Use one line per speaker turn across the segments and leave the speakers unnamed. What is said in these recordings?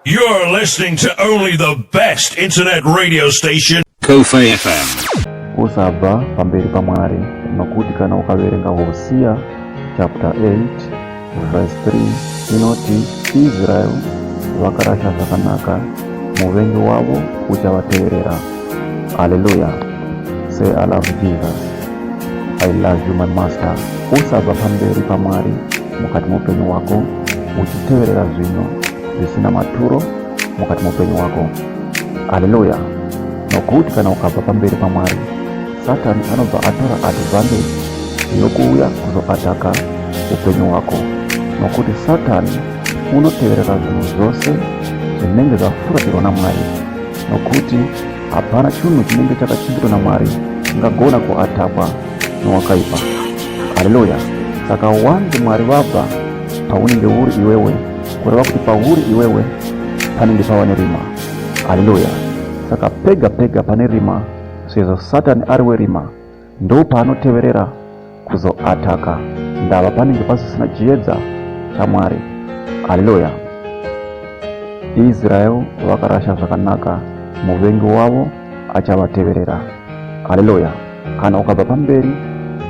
You're
listening to only the best internet radio station. Kofa FM.
Usabva
pamberi pamwari nokuti kana ukaverenga Hosea chapter 8 verse 3 inoti Israel vakarasha zvakanaka muvengi wavo uchavateverera. Hallelujah. Say I love Jesus. I love you my master. Usabva pamberi pamwari mukati moupenyu wako uchiteverera zvino zvisina maturo mukati meupenyu wako haleluya nokuti kana ukabva pamberi pamwari satani anobva atora advantage yokuuya kuzoataka upenyu hwako nokuti satani unoteverera zvinhu zvose zvinenge zvafuratirwa namwari nokuti hapana chinhu chinenge chakachengetwa namwari chingagona kuatakwa nowakaipa haleluya saka wanzi mwari vabva paunenge uri iwewe kureva kuti pauri iwewe panenge pava nerima haleluya saka pega pega pane rima sezvo satani ari werima ndo paanoteverera kuzoataka ndava panenge pasisina chiedza chamwari haleluya israel vakarasha zvakanaka muvengi wavo achavateverera haleluya kana ukabva pamberi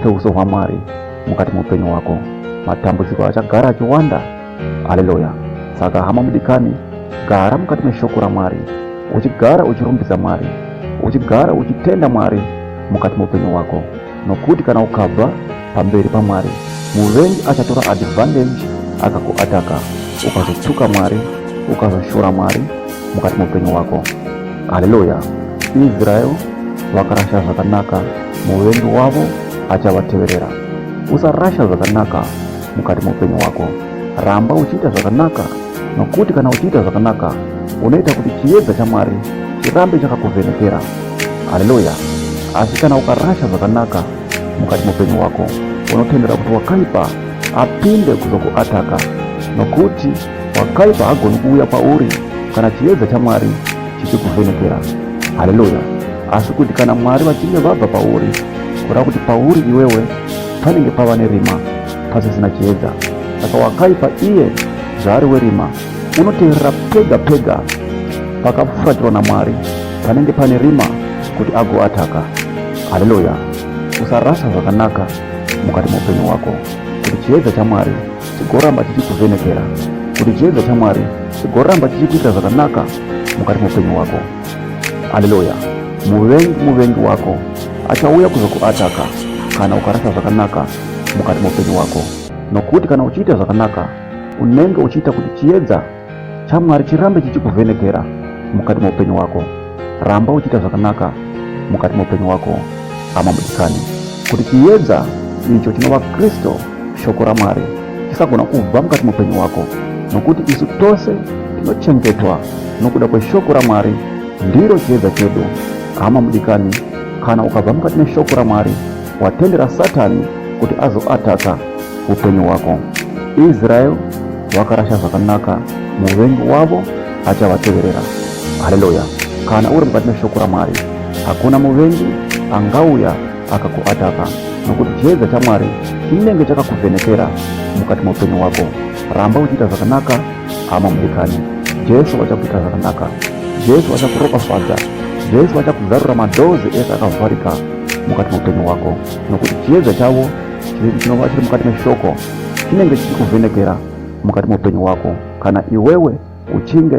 peuso hwamwari mukati muupenyu hwako matambudziko achagara achiwanda haleluya saka hama mudikani gara mukati meshoko ramwari uchigara uchirumbidza mwari uchigara uchitenda mwari mukati meupenyu hwako nokuti kana ukabva pamberi pamwari muvengi achatora advantage akakuataka ukazotuka mwari ukazoshora mwari mukati meupenyu hwako haleluya israel vakarasha zvakanaka muvengi wavo achavateverera usarasha zvakanaka mukati meupenyu hwako ramba uchiita zvakanaka nokuti kana uchiita zvakanaka unoita kuti chiedza chamwari chirambe chakakuvhenekera haleluya asi kana ukarasha zvakanaka mukati meupenyu hwako unotendera kuti wakaipa apinde kuzokuataka nokuti wakaipa hagoni kuuya kwauri kana chiedza chamwari chichikuvhenekera haleluya asi kuti kana mwari vachinge vabva pauri kuda kuti pauri iwewe panenge pava nerima pasisina chiedza saka wakaipa iye zvaari werima unoteerera pega pega pakafurakirwa namwari panenge pane rima kuti agoataka haleluya usarasa zvakanaka mukati meupenyu hwako kuti chiedza chamwari chigoramba chichikuvhenekera kuti chiedza chamwari chigoramba chichikuitira zvakanaka mukati meupenyu hwako Haleluya! Muvengi muvengi wako achauya kuzokuataka kana ukarasa zvakanaka mukati moupenyu wako, nokuti kana uchiita zvakanaka unenge uchiita kuti chiedza chamwari chirambe chichikuvhenekera mukati moupenyu wako. Ramba uchiita zvakanaka mukati moupenyu wako, hama mudikani, kuti chiedza icho chinova Kristu shoko raMwari chisagona kubva mukati mupenyu wako nokuti isu tose tinochengetwa nokuda kweshoko raMwari ndiro chiedza chedu hama mudikani kana ukabva mukati meshoko raMwari watendera satani kuti azoataka upenyu hwako israel wakarasha zvakanaka muvengi wavo achavateverera haleluya kana uri mukati meshoko ramwari hakuna muvengi angauya aka kuataka nokuti chiedza chamwari chinenge chakakuvhenekera mukati meupenyu hwako ramba uchiita zvakanaka hama mudikani jesu vachakuita zvakanaka jesu vachakuropafadza jesu vachakuzarura madhozi ese akavharika mukati meupenyu hwako nokuti chiedza chavo chinova chiri mukati meshoko chinenge chichikuvhenekera mukati meupenyu hwako kana iwewe uchinge